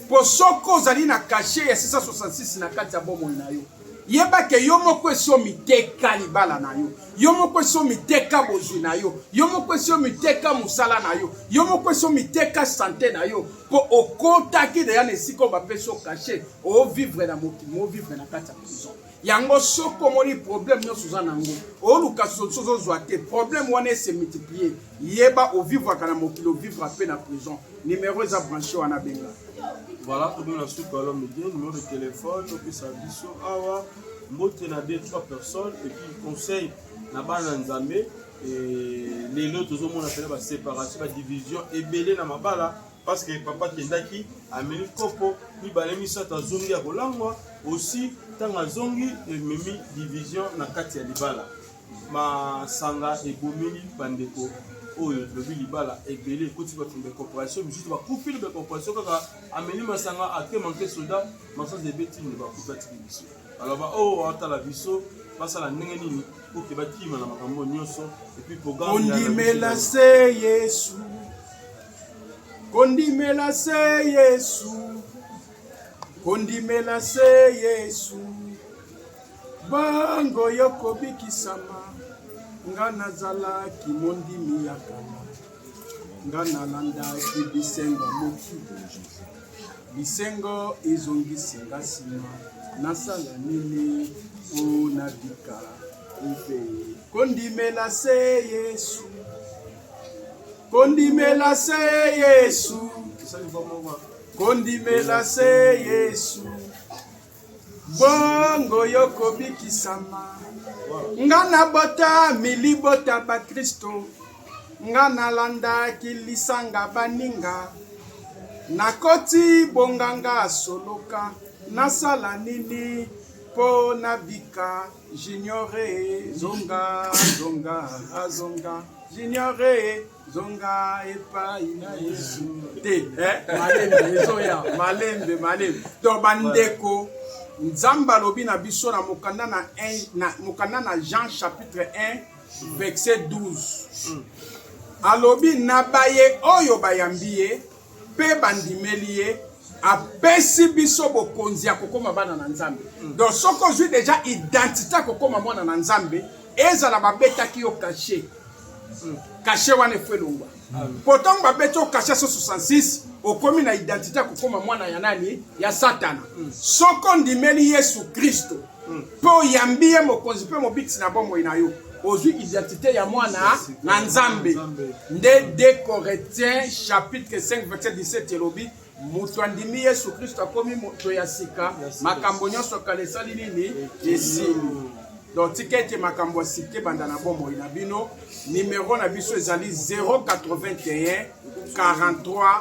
Po soki ozali na cachet ya 666 na kati ya bomoi na yo, yeba ke yo moko esi omiteka libala na yo, yo moko esi omiteka bozwi na yo, yo moko esi omiteka mosala na yo, yo moko esi omiteka sante na yo, po okotaki deja na esika oyo bapesi yo cachet, ovivre na mokili, ovivre na kati ya prison. yango soki omoni problème nyonso oza na yango oluka solution ozozwa te problème wana ese multiplier Yeba o vivraka na mokili o vivra pe na prison. Numero eza branche wana benga. Voilà, tokomi na suka alo midi, numero de téléphone topesa biso awa mbote na deux trois personnes et puis conseil na bana nzambe lelo tozomona mpena baséparation badivision ebele na mabala parce que papa akendaki ameli kopo mibale misato azongi ya kolangwa aussi ntango azongi ememi division na kati ya libala Masanga ebomeli bandeko oyo elobi libala ebele ekoti bato na bacorporation misusu bakufi na bacorporation kaka ameli masanga ake manke soda masanga ebeti nde bakufi atiki biso alors baoyo oh, atala biso basala ndenge nini oke bakima na makambo nyonso epuis programondimela se yesu kondimela se yesu kondimela se yesu Bango yo kobikisama nga nazalaki mondimi ya kala nga nalandaki bisengo moki bisengo ezongisi nga nsima nasala nini mpo nabika mpe kondimela se yesu kondimela se yesu kondimela se yesu bongo yo kobikisama nga na bota milibota bakristo nga nalandaki lisanga baninga nakoti bonganga soloka nasala nini mpo nabika juniore zonga zonga azonga juniore zonga epai na yesu te eh? malembe ezoya malembe malembe to bandeko nzambe alobi na biso na mokanda na, na, mokanda na jean chapitre 1 verset 12 alobi na baye oyo bayambi ye mpe bandimeli ye apesi biso bokonzi ya kokoma bana na nzambe mm. donc soki ozwi deja identité ya kokoma mwana na nzambe ezala babetaki yo kashe mm. kashe wana efo elongwa mpo ntango babeti yo kashe so 66 okomi na identité ya kokoma mwana ya nani ya satana mm. soko ondimeli yesu kristo Mpe oyambi ye mokonzi mpe mobikisi na bomoi na yo. Ozwi identite ya mwana na Nzambe. Nde 2 Corinthiens chapitre 5 verset 17 elobi moto andimi Yesu Kristo akomi moto ya sika, makambo nyonso kala esali nini? Esili. Donc tika ete makambo ya sika ebanda na bomoi na bino. Numero na biso ezali 081 43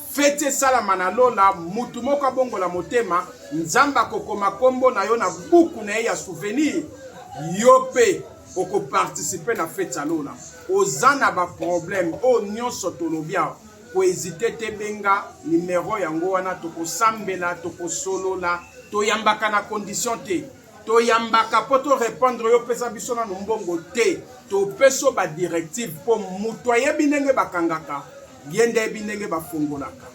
Feti esalama na lola, mutu moko abongola motema, Nzambe akokoma kombo na yo na buku na ye ya souvenir, yo pe okoparticipe na feti ya lola. Oza na ba problème oyo nyonso tolobi awa, kohesite te, benga numero yango wana, tokosambela, tokosolola, toyambaka na condition te. toyambaka po to repondre yo pesa biso nano mbongo te topeso ba directive po moto ayebi ndenge bakangaka ye nde ayebi ndenge bafungolaka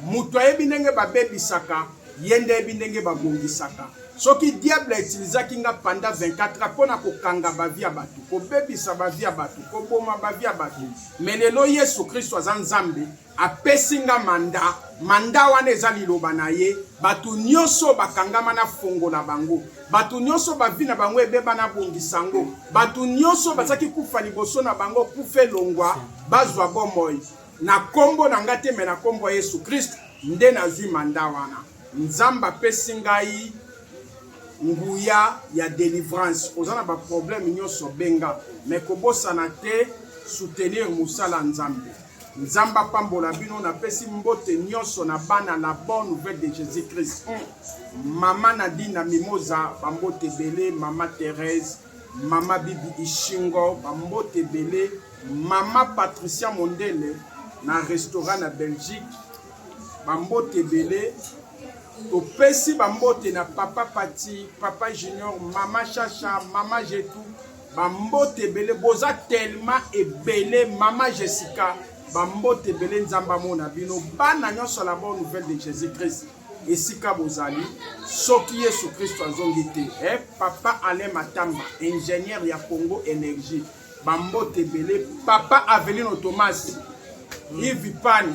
moto ayebi ndenge babebisaka ye nde ayebi ndenge babongisaka soki diable autilisaki nga panda 24 mpo na kokanga bavi ya bato kobebisa bavi ya bato koboma bavi ya bato me lelo yesu kristo aza nzambe Apesi nga manda, manda wana eza liloba na ye. Bato nyonso oyo bakangama nafongola bango, bato nyonso oyo bavi na bango ebeba nabongisa yango, bato nyonso oyo bazalaki kufa liboso na bango kufa elongwa, bazwa bomoi na nkombo na ngai te, me na nkombo ya Yesu Kristu nde nazwi manda wana. Nzambe apesi ngai nguya ya delivrance. Oza na baprobleme nyonso, benga, me kobosana te soutenir mosala ya Nzambe. Nzambe apambola bino, napesi mbote nyonso na bana la bonne nouvelle de Jésus Christ. Mm. Mama Nadine na Mimoza, bambote ebele, mama Therese, mama Bibi Ishingo, bambote ebele, mama Patricia Mondele na restaurant na Belgique, bambote ebele. Topesi bambote na papa Pati, papa Junior, mama Chacha, mama Jetou, bambote ebele boza telema ebele mama jessica bambote ebele nzambe amona bino bana nyonso la bonne nouvelle de jésus christ esika bozali soki yesu kristo azongi te eh, papa alain matamba ingénieur ya congo énergie bambote ebele papa avelino thomas mm. ivipani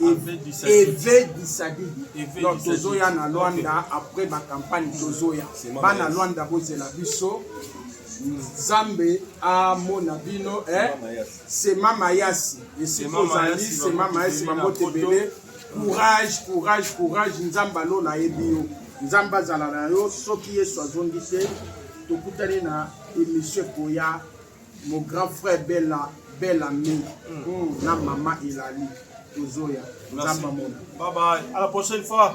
eve disadid donc tozoya na lwanda après bacampagne tozoya bana lwanda bozela biso nzambe amona bino eh? sema mayasi esika ozali sema mayasi bambote ebele courage courage courage nzambe alola ayebi yo nzambe azala na yo soki yesu azongi te tokutani na emission ekoya Mon grand frère Bella Bella Ming mm. na maman Elali tozoya nzamba mona. Bye bye. À la prochaine fois.